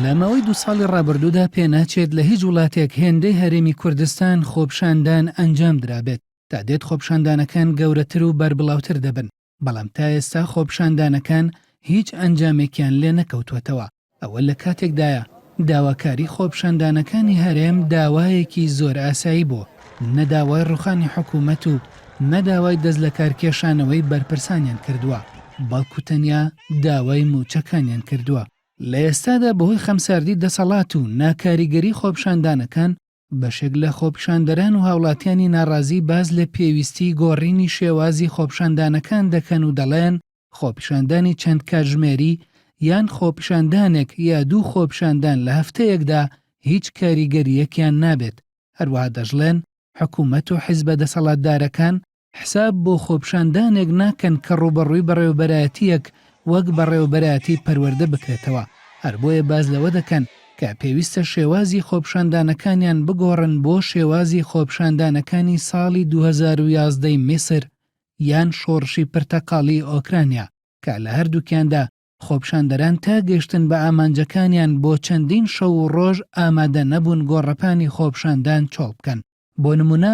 لە ماوەی دوو ساڵی ڕابردوودا پێناچێت لە هیچ وڵاتێک هێندەی هەرێمی کوردستان خۆپشاندان ئەنجام درابێت، تا دێت خۆپشاندانەکان گەورەتر و بەربڵاوتر دەبن، بەڵام تا ئێستا خۆپشاندانەکان هیچ ئەنجامێکیان لێنەکەوتووەتەوە، ئەوە لە کاتێکدایە داواکاری خۆپیشاندانەکانی هەرێم داوایەکی زۆر ئاسایی بوو، نە داوای ڕووخانی حکوومەت و نە داوای دەستلەکارکێشانەوەی بەرپرسانیان کردووە، بەڵکو تەنیا داوای مووچەکانیان کردووە. لە ئێستادا بەهۆی خەمساردی دەسەڵات و ناکاریگەری خۆپیشاندانەکان، بەشێک لە خۆپیشاندەران و هاوڵاتیانی ناڕازی باس لە پێویستیی گۆڕینی شێوازی خۆپیشاندانەکان دەکەن و دەڵێن، خۆپیشاندانی چەند کاتژمێری یان خۆپیشاندانێک یا دوو خۆپیشاندان لە هەفتەیەکدا هیچ کاریگەرییەکیان نابێت، هەروەها دەشڵێن، حکومەت و حزبە دەسەڵاتدارەکان حساب بۆ خۆپیشاندانێک ناکەن کە ڕووبەڕووی بەڕێوەبەرایەتییەک وەک بەڕێوەبەرایەتی پەروەردە بکرێتەوە، هەر بۆیە باس لەوە دەکەن کە پێویستە شێوازی خۆپیشاندانەکانیان بگۆڕن بۆ شێوازی خۆپیشاندانەکانی ساڵی دوو هەزار و یازدە ی میسر یان شۆڕشی پرتەقاڵیی ئۆکرانیا کە لە هەردووکیاندا خۆپیشاندەران تا گەشتن بە ئامانجەکانیان بۆ چەندین شەو و ڕۆژ ئامادە نەبوون گۆڕەپانی خۆپیشاندان چۆڵ بکەن، بۆ نموونە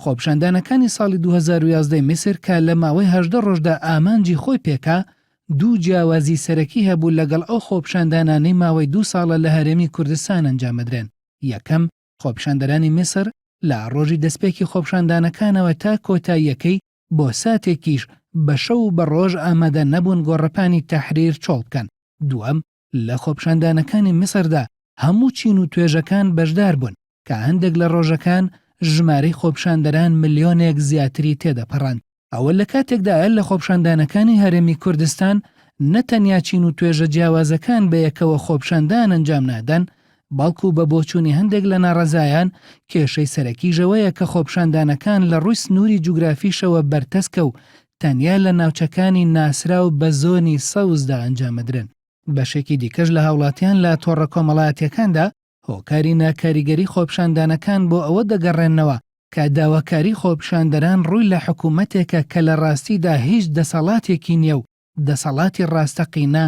خۆپیشاندانەکانی ساڵی دوو هەزار و یازدە ی میسر کە لە ماوەی هەژدە ڕۆژدا ئامانجی خۆی پێکا، دوو جیاوازی سەرەکی هەبوو لەگەڵ ئەو خۆپیشاندانانەی ماوەی دوو ساڵە لە هەرێمی کوردستان ئەنجامەدرێن، یەکەم، خۆپیشاندەرانی میسر لە ڕۆژی دەستپێکی خۆپیشاندانەکانەوە تا کۆتاییەکەی بۆ ساتێکیش بە شەو و بە ڕۆژ ئامادە نەبوون گۆڕەپانی تەحریر چۆڵ بکەن، دووەم، لە خۆپیشاندانەکانی میسردا هەموو چین و توێژەکان بەشدار بوون، کە هەندێک لە ڕۆژەکان ژمارەی خۆپیشاندەران ملیۆنێک زیاتری تێدەپەڕاند، ئەوە لە کاتێکدایە لە خۆپیشاندانەکانی هەرێمی کوردستان نە تەنیا چین و توێژە جیاوازەکان بە یەکەوە خۆپیشاندان ئەنجام نادەن، بەڵکو بە بۆچوونی هەندێک لە ناڕەزایان، کێشەی سەرەکیش ئەوەیە کە خۆپیشاندانەکان لە ڕووی سنووری جوگرافیشەوە بەرتەسکە و تەنیا لە ناوچەکانی ناسراو بە زۆنی سەوزدا ئەنجامدرێن. بەشێکی دیکەش لە هاوڵاتیان لە تۆڕە کۆمەڵایەتییەکاندا هۆکاری ناکاریگەری خۆپیشاندانەکان بۆ ئەوە دەگەڕێننەوە کە داواکاری خۆپیشاندەران ڕووی لە حکوومەتێکە کە لە ڕاستیدا هیچ دەسەڵاتێکی نییە و دەسەڵاتی ڕاستەقینە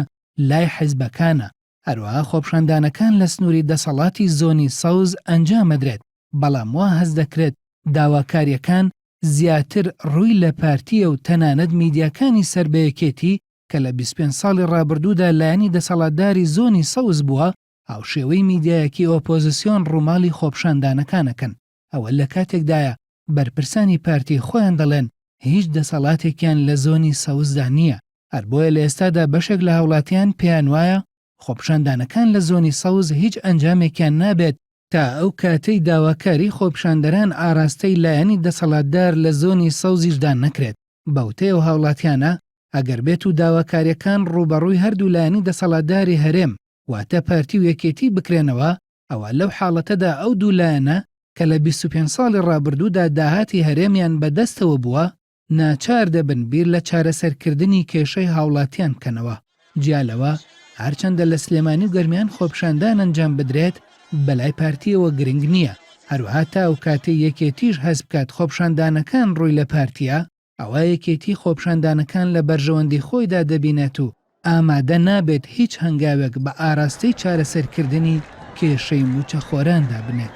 لای حیزبەکانە، هەروەها خۆپشاندانەکان لە سنووری دەسەڵاتی زۆنی سەوز ئەنجامەدرێت، بەڵام وا هەست دەکرێت داواکارییەکان زیاتر ڕووی لە پارتییە و تەنانەت میدیاکانی سەر بە یەکێتی کە لە بیست پێنج ساڵی ڕابردوودا لایەنی دەسەڵاتداری زۆنی سەوز بووە، هاوشێوەی میدیایەکی ئۆپۆزسیۆن ڕووماڵی خۆپشاندانەکانەکەن. ئەوە لە کاتێکدایە بەرپرسانی پارتی خۆیان دەڵێن هیچ دەسەڵاتێکیان لە زۆنی سەوزدا نییە، هەر بۆیە لە ئێستادا بەشێک لە هاوڵاتیان پێیان وایە خۆپیشاندانەکان لە زۆنی سەوز هیچ ئەنجامێکیان نابێت، تا ئەو کاتەی داواکاری خۆپیشاندەران ئاراستەی لایەنی دەسەڵاتدار لە زۆنی سەوزیشدا نەکرێت، بەوتەی ئەو هاوڵاتیانە ئەگەر بێت و داواکاریەکان ڕووبەڕووی هەردوو لایەنی دەسەڵاتداری هەرێم واتە پارتی و یەکێتی بکرێنەوە، ئەوا لەو حاڵەتەدا ئەو دوو لایەنە کە لە بیست و پێنج ساڵی ڕابردوودا داهاتی هەرێمیان بە دەستەوە بووە، ناچار دەبن بیر لە چارەسەرکردنی کێشەی هاوڵاتیان بکەنەوە، جیا لەوە هەرچەندە لە سلێمانی و گەرمیان خۆپیشاندان ئەنجام بدرێت بەلای پارتییەوە گرنگ نییە، هەروەها تا ئەو کاتەی یەکێتیش هەست بکات خۆپیشاندانەکان ڕووی لە پارتییە، ئەوا یەکێتی خۆپیشاندانەکان لە بەرژەوەندی خۆیدا دەبینێت و ئامادە نابێت هیچ هەنگاوێک بە ئاراستەی چارەسەرکردنی کێشەی مووچەخۆراندا بنێت.